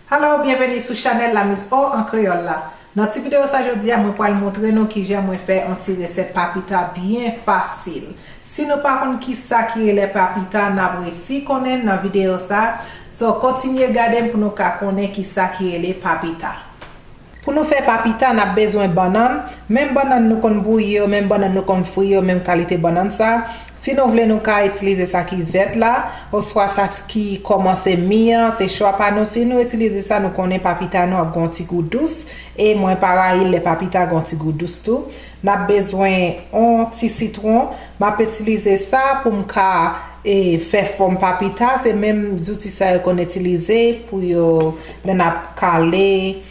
Hello byenveni sou chanèl la Miss O an kreyòl la Nan ti videyo sa jodi a mwen pwal montre nou kijan mwen fè on ti resèt papita byen fasil Si nou pa konn kisa ki rele papita nap resi konnen nan videyo sa so kontinye gadem pou nou ka konnen kisa ki rele papita. Pou nou fè pa pita nap bezwen bannann, menm bannann nou konn bouyi yo, menm bannann nou konn fri yo, menm kalite bannann sa, si nou vle nou ka itilize sa ki vèt la, oswa sa ki kòmanse mi an, se chwa pa nou, si nou itilize sa nou konnen pa pita nou ap gon ti gou dous, e mwen pa rayi lè pa pita gon ti gou dous tou, Nap bezwen on ti sitron, map itilize sa pou m ka fè fòm papita, se menm zouti sa yo konn itilize pou yo lè nap kale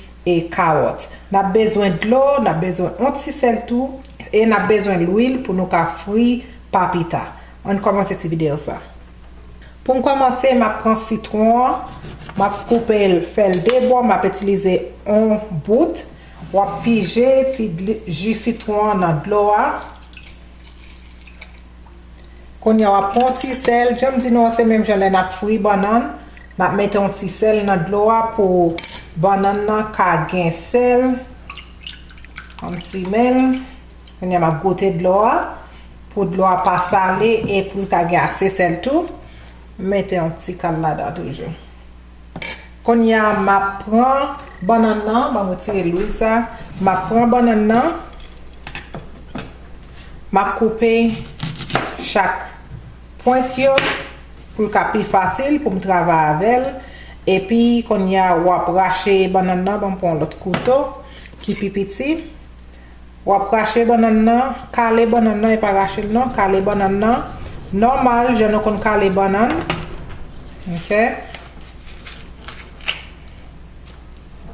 kawòt. Nap bezwen dlo, nap bezwen on ti sèl tou e nap bezwen lwil pou nou ka fri papita. Ann kòmanse ti videyo sa. Pou m kòmanse map pran sitron an, map koupe l fè l 2 bò, map itilize on bout Wap pije ti ju sitwon an nan dlo a. Kounya wap pran yon ti sèl, janm di nou an se menm jan lè nap fri bannann, nap mete yon ti sèl nan dlo a pou bannann nan ka gen sèl. Wap simen l, kounya map goute dlo a pou dlo a pa sale e pou l ta gen ase sèl tou. M mete yon ti kal ladan toujou. Konnya map pran bannann nan, banm retire lwil sa, map pran bannann nan, map koupe chak pwent yo pou l ka pi fasil poum travay avèl, epi konnya wap rache bannann nan, banm pran yon lòt kouto ki pi piti. Wap rache bannann nan, kale bannann nan e pa rachel non, kale bannann nan nòmal jan nou konn kale bannann ok.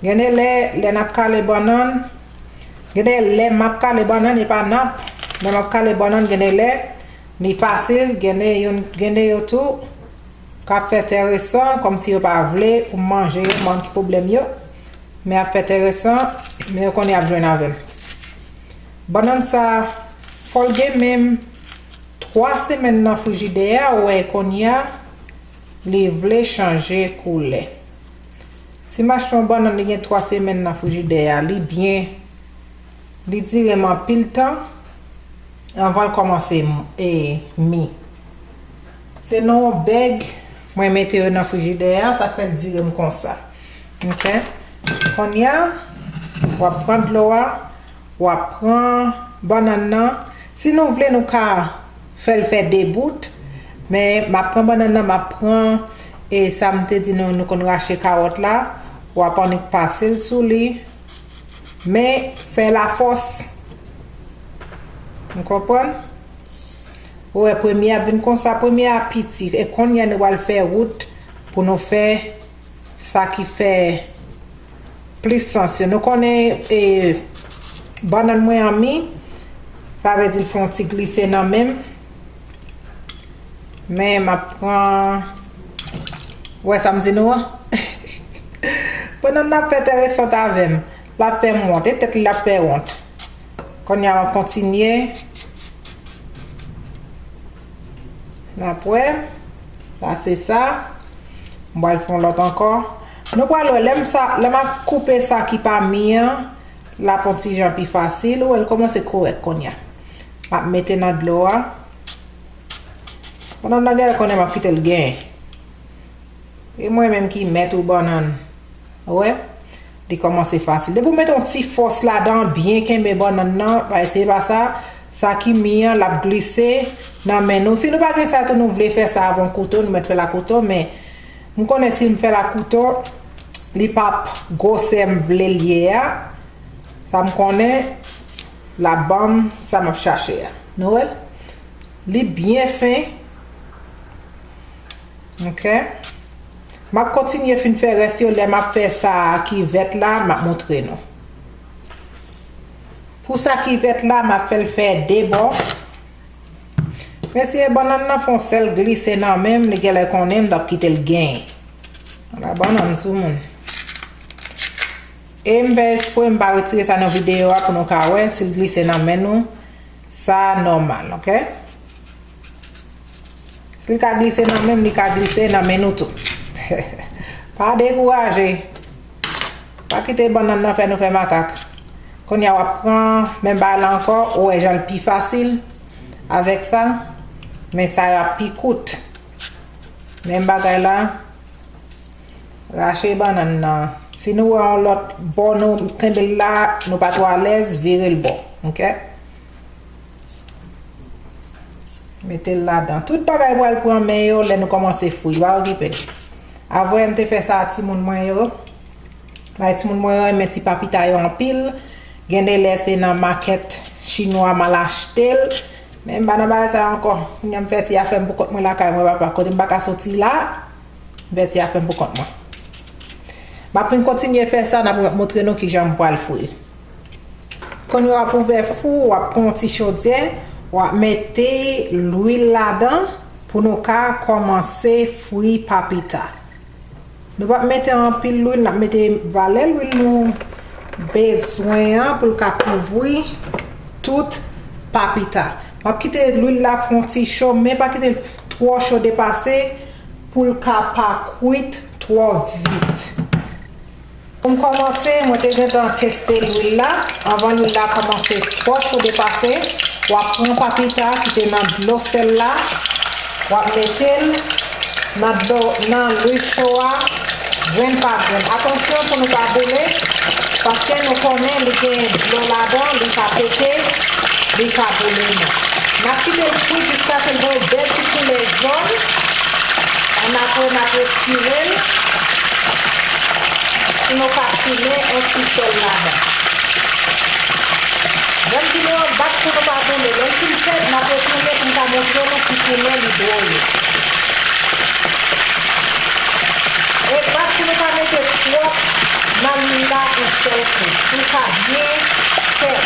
Gende lè lè nap kale bannann gende lè map kale bannann e pa nap lè map kale bannann gende lè li fasil gende yon gende yo tou kap fè tè resan kòmsi yo pa vle pou manje yo banm ki pwoblèm yo. Men ap enteresan, men yo konnen yap jwenn avèm. Bannann sa, fòl gen menm 3 semèn nan frijidè a wè konnya li vle chanje koulè. Si m achte yon bannann li gen 3 semèn nan frijidè a li byen li dire m anpil tan anvan l kòmanse mi. Se nan yon bèg. Mwen mete yo nan frijidè a sak fèl direm konsa ok konnya wap pran dlo a wap pran bannann nan si nou vle nou ka fèl fè 2 bout men map pran bannann nan map pran e sam te di nou nou konn rache kawòt la wap annik pasel sou li men fèl a fòs nou konprann. Ou wè premye ap vin konsa premye a piti e konnya nou pral fè rout pou nou fè sa ki fè plis sans yo nou konnen e bannann mwen an mi sa vle di l fè yon ti glise nan menm men map pran ou wè sam di nou an bannann nan ap fè tèresant avèm lap fèm wont e tèt li lap fè wont. Konnya map kontinye nap wè sa se sa m pral fè yon lòt ankò nou pral wè lèm sa lè map koupe sa ki pa mi an lap yon ti jan pi fasil ou wè l kòmanse korèk konnya map mete nan dlo a bannan nan genlè konnya map kite l gen e mwen menm ki mèt ou bannann ou wè Li kòmanse fasil. Depi w met yon ti fòs ladan, byen kenbe bannann nan, pa eseye pa sa, sa ki mi an l ap glise nan men nou. Si nou pa gen sa tou nou vle fè sa avon kouto, nou mèt fè l a kouto men m konnen si m fè l a kouto li p ap gwosè m vle l ye a. Sa m konnen l ap ban m sa m ap chache a. Nou wè l? Li byen fen. Ok Map kontinye fin fè rès yo lè map fè sa ki vèt la map moutre nou Pou sa ki vèt la map fèl fè 2 bò Mesye bannann nan fon sèl glise nan menm li genlè konnen mtap kitel gen Ala bannann sou moun E mfè espre mpa retire sa nan video a pou nou ka wè sil glise nan men nou sa nòmal ok. Si li ka glise nan menm li ka glise nan men nou tou. Pa dekouraje. Pa kite bannann nan fè nou fè makak. Konya wap pran menm bagay la ankò, ou wè jan li pi fasil avèk sa, men sa yo ap pi kout. Menm bagay la, rache bannann nan. Si nou wè yon lòt bò nou kenbe l la, nou pa twò alèz, vire l bò. Ok? Mete l ladan. Tout bagay pral pran men yo lè nou kòmanse fri. Pa okipe. Avoye m te fè sa a timoun mwen yo. Bagay timoun mwen yo renmen ti papita yo anpil. Gen de lè se nan makèt chinwa m al achte l. Men m pa nan bagay sa yo ankò. Kounya m fè ti afè m pou kont mwen lakay mwen papa. Kote m pa ka soti la, m fè ti afè m pou kont mwen. M ap vin kontinye fè sa, m ap moutre nou kijan m pral fri. Kon yo ap ouvè fou wap pran yon ti chodyè wap mete lwil ladan pou nou ka kòmanse fri papita nou pap mete anpil lwil nap mete valè lwil nou bezwen an poul ka kouvri tout papita wap kite lwil la fon ti cho men pa kitel twò cho depase poul ka pa kwit twò vit. Pou m kòmanse, mwen te gentan teste lwil la, anvan lwil la kòmanse twò cho depase, w ap pran papita ki te nan dlo sèl la, w ap mete l nan dlo nan lwil cho a grenn pa grenn. Atansyon pou nou pa boule, paske nou konnen li gen dlo ladan, li ka pete, li ka boule nou. N ap kite l kwit jiskase l voye bèl ti koulè jòn, annapre n ap retire l. Pou nou ka simen on ti sèl ladan. Bann vide yo bat pou nou pa boule. Lè l fin fèt, n ap retounen pou m ka montre nou ki koumen li dwoye. E bat pou nou pa mete twòp nan lwil la on sèl kou. Pou l ka byen fèt.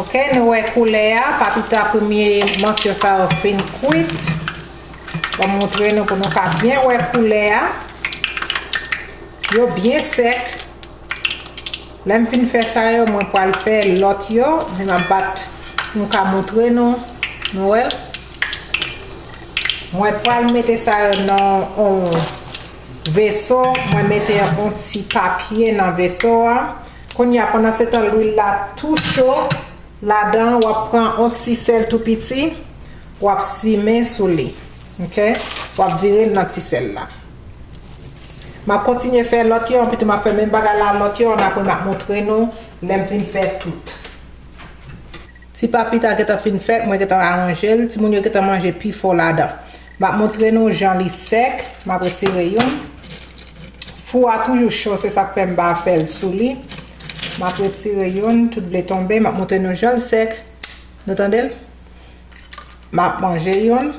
Ok, nou wè koulè a. Pa pita premye mòso sa yo fin kwit. Mwen montre nou pou nou ka byen wè koulè a. Yo byen sèk. Lè m fin fè sa yo, mwen pral fè lòt yo. Men m ap bat pou m ka montre nou. Nou wè l? Mwen pral mete sa yo nan yon veso. Mwen mete yon ti papye nan veso a. Kounye a, pandansetan lwil la tou cho, ladan an w ap pran yon ti sèl tou piti. Wap simen sou li ok. Wap virel nan ti sèl la. Map kontinye fè lòt yo anpi tou map fè menm bagay la lòt yo an apre map montre nou lèm fin fè tout. Ti papita gentan fin fèt mwen gentan aranjel timoun yo gentan manje pifò ladan. Map montre nou jan li sèk map retire youn. Fou a toujou cho se sak fè mpa fèl sou li. Map retire youn tout vle tonbe map montre nou janl sèk nou tandel. Map manje youn.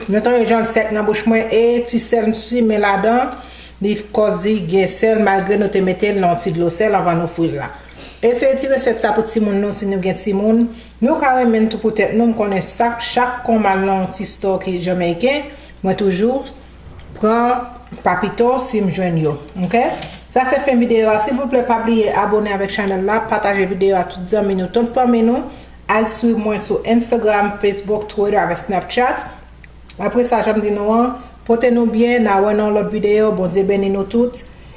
Nou tande jan l sèk nan bouch mwen e ti sèl m simen ladan li kòz li gen sèl malgre nou te mete l nan yon ti dlo sèl anvan nou fri l la. Eseye ti resèt sa pou timoun nou si nou gen timoun. Nou ka renmen l tou pou tèt nou m konnen sak chak kon m al nan yon ti store ki jamaiken mwen toujou Pran pa pito sim jwenn yo ok. Sa se fen video a silvouplè pa bliye abone avek chanel la pataje video a tout zanmi nou tout fanmi nou al swiv mwen sou Instagram Facebook Twitter avek Snapchat apresa janm di nou an pote nou byen na wè nan yon lot video Bondye beni nou tout.